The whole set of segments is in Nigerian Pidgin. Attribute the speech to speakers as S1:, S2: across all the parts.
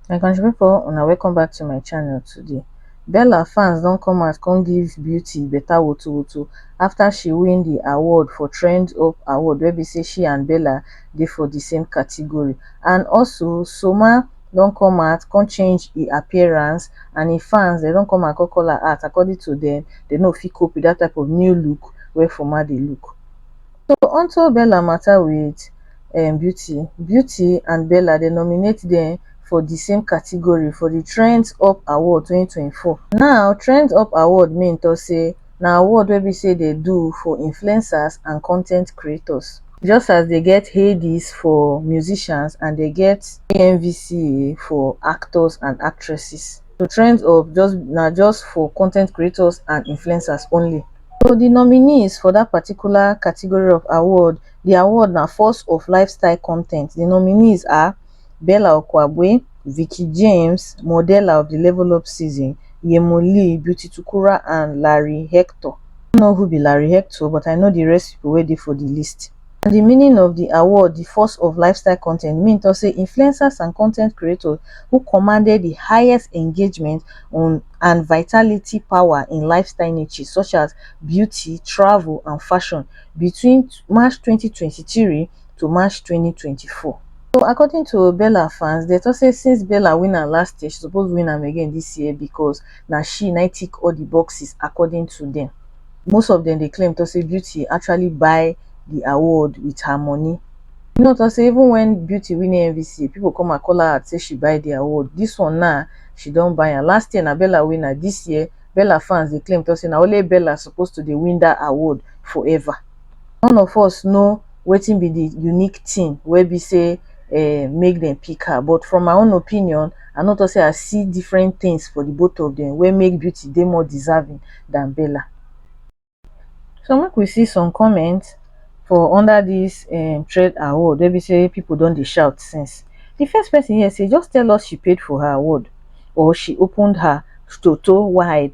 S1: my country pipo una welcome back to my channel today bella fans don come out come give beauty better woto woto after she win the award for trend up award wey be say she and bella dey for the same category and also soma don come out come change e appearance and e fans dem don come out come call am out according to dem, dem no fit cope with dat type of new look wey Foma dey look. So onto Bella matter with um Beauty, Beauty and Bella dem nominate dem for di same category for di Trends Up Award twenty twenty four. Now Trends Up Award main talk say na award wey be sey dey do for influencers and con ten t creators. Just as dey get Headies for musicians and dey get AMVCA for actors and actresses, so Trends Hub just na just for con ten t creators and influencers only. So di nominees for dat particular category of award, di award na Force of Lifestyle Content. Di nominees are Bella Okwagbue, Vicky James, Modella of the Level Up Season, Yhemo Lee, Beauty Tukura and Larry Hector. I know who be Larry Hector but I know the rest people wey dey for the list. On the meaning of the award The Force of Lifestyle Content, Min talk say influencers and content creators who commanded the highest engagement on and vitality power in lifestyle niches such as beauty, travel and fashion between March twenty twenty three to March 2024. So according to Bella fans, they talk say since Bella win her last year, she suppose win am again this year because na she na tick all the boxes according to them. Most of them dey claim to say Beauty actually buy the award with her money. You know to say even when Beauty win AMVCA, people come and call her out say she buy the award. This one now, she don buy am. Last year na Bella win am. This year, Bella fans dey claim to say na only Bella suppose to dey win that award forever. none of us know wetin be the unique thing wey be sey um make dem pick her but from my own opinion I no talk sey I see different things for the both of dem wey make Beauty dey more deserving than Bella. So make we see some comment for under this um thread award wey be sey people don dey shout since. The first person here say just tell us she paid for her award or she opened her toto wide.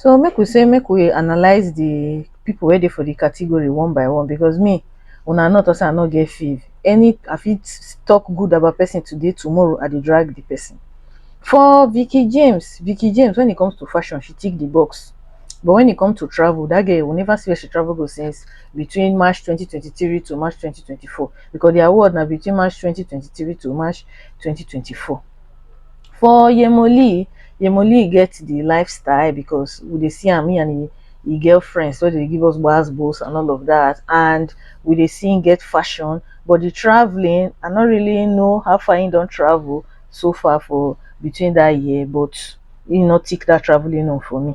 S1: So make we say make we analyse the people wey dey for the category one by one because me una no talk say I no get fave. Any I fit talk good about person today tomorrow I dey drag the person. For Vicky James, Vicky James when it comes to fashion she tick the box but when it comes to travel that girl we never see where she travel go since between March twenty twenty three to March twenty twenty four because the award na between March twenty twenty three to March twenty twenty four. For Yemoli, Yemoli get the lifestyle because we dey see am, he and he, he girlfriends wey dey give us gbas gbos and all of that, and we dey see him get fashion. But the traveling, I no really know how far he don travel so far for between that year, but he no tick that traveling own for me.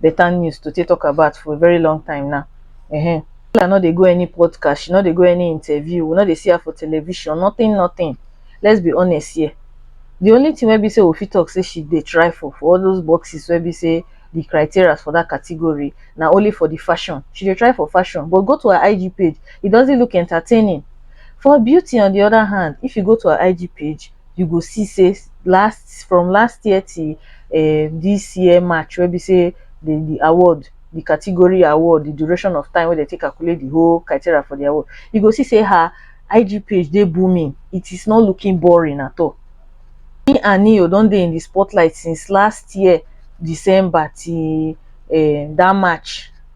S1: better news to take talk about for a very long time now. Uh-huh. Lola no dey go any podcast, she no dey go any interview, we no dey see her for television, nothing, nothing. Let's be honest here. The only thing wey be say we fit talk say she dey try for for all those boxes wey be say the criteria for that category na only for the fashion. She dey try for fashion, but go to her IG page, it doesn't look entertaining. For beauty, on the other hand, if you go to her IG page, you go see say last from last year till um this year march wey be say the the award the category award the duration of time wey dem take calculate the whole criteria for the award you go see say her IG page dey booming it is not looking boring at all me and Neo don dey in the spotlight since last year December till um that march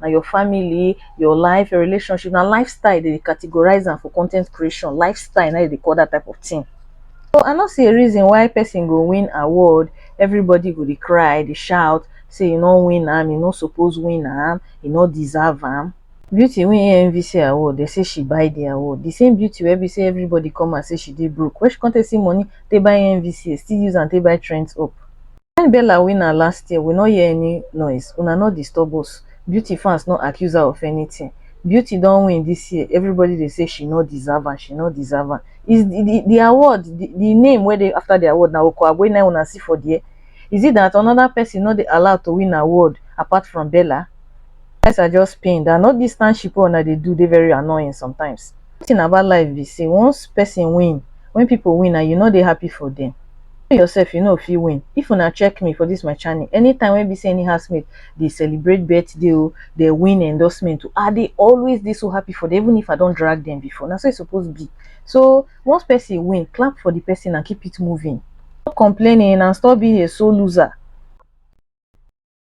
S1: na your family, your life, your relationship, na lifestyle they categorize them for content creation. Lifestyle, now they call that type of thing. So I not see a reason why person go win award, everybody go they cry, they shout, say you no win am, you no suppose win am, you no deserve am. Beauty win AMVC award, they say she buy the award. The same beauty where we say everybody come and say she did broke. Where she can't see money, they buy AMVC, still use and they buy trends up. When Bella win her last year we no hear any noise, una no disturb us, Beauty fans no accuse her of anything, Beauty don win this year everybody dey say she no deserve am, she no deserve am, is the the award the the name wey dey after the award na Okoagbe na im una see for there? Is it that another person no dey allowed to win award apart from Bella? You guys are just pained and all this tanship wey una dey do dey very annoying sometimes. One thing about life be say once person win, when people win and you no dey happy for them, you yourself you no fit win. If una check me for this my channel, anytime wey be say any housemate dey celebrate birthday o, dey win endorsement o, I dey always dey so happy for them even if I don drag them before. Na so e suppose be. So once person win, clap for the person and keep it moving. Stop complaining and stop being a sore loser.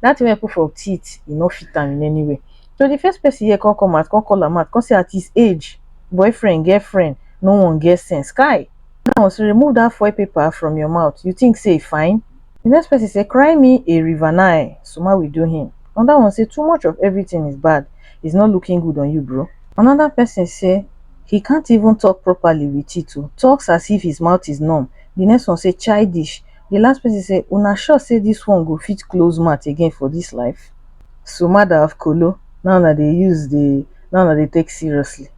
S1: dat thing wey I put for teeth e no fit am in any way so de first person here come come out come call am out come say at his age boyfriend girlfriend no one get sense kai dat one so remove dat foil paper from your mouth you think say e fine de next person say cry me a river nai suma will do him another one say too much of everything is bad is not looking good on you bro another person say he can't even talk properly with it o talks as if his mouth is numb de next one say childish Di last pesin say, Una sure say dis one go fit close mouth again for dis life? So mada of kolo na una dey use dey na una dey take seriously?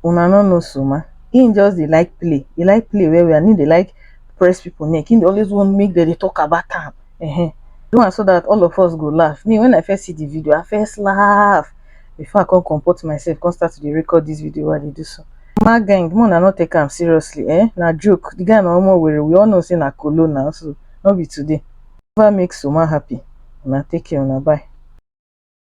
S1: Una no know Soma? Im just dey like play, e like play well well and im dey like press pipo neck, im dey always want make dem dey tok about am, um do am so dat all of us go laff. Me wen I first see di video, I first laff. before i come comport myself come start to dey record this video wey i dey do so ma gang mo na no take am seriously eh na joke the guy na omo were we all know say na kolo na so no be today never make soma happy una take care una bye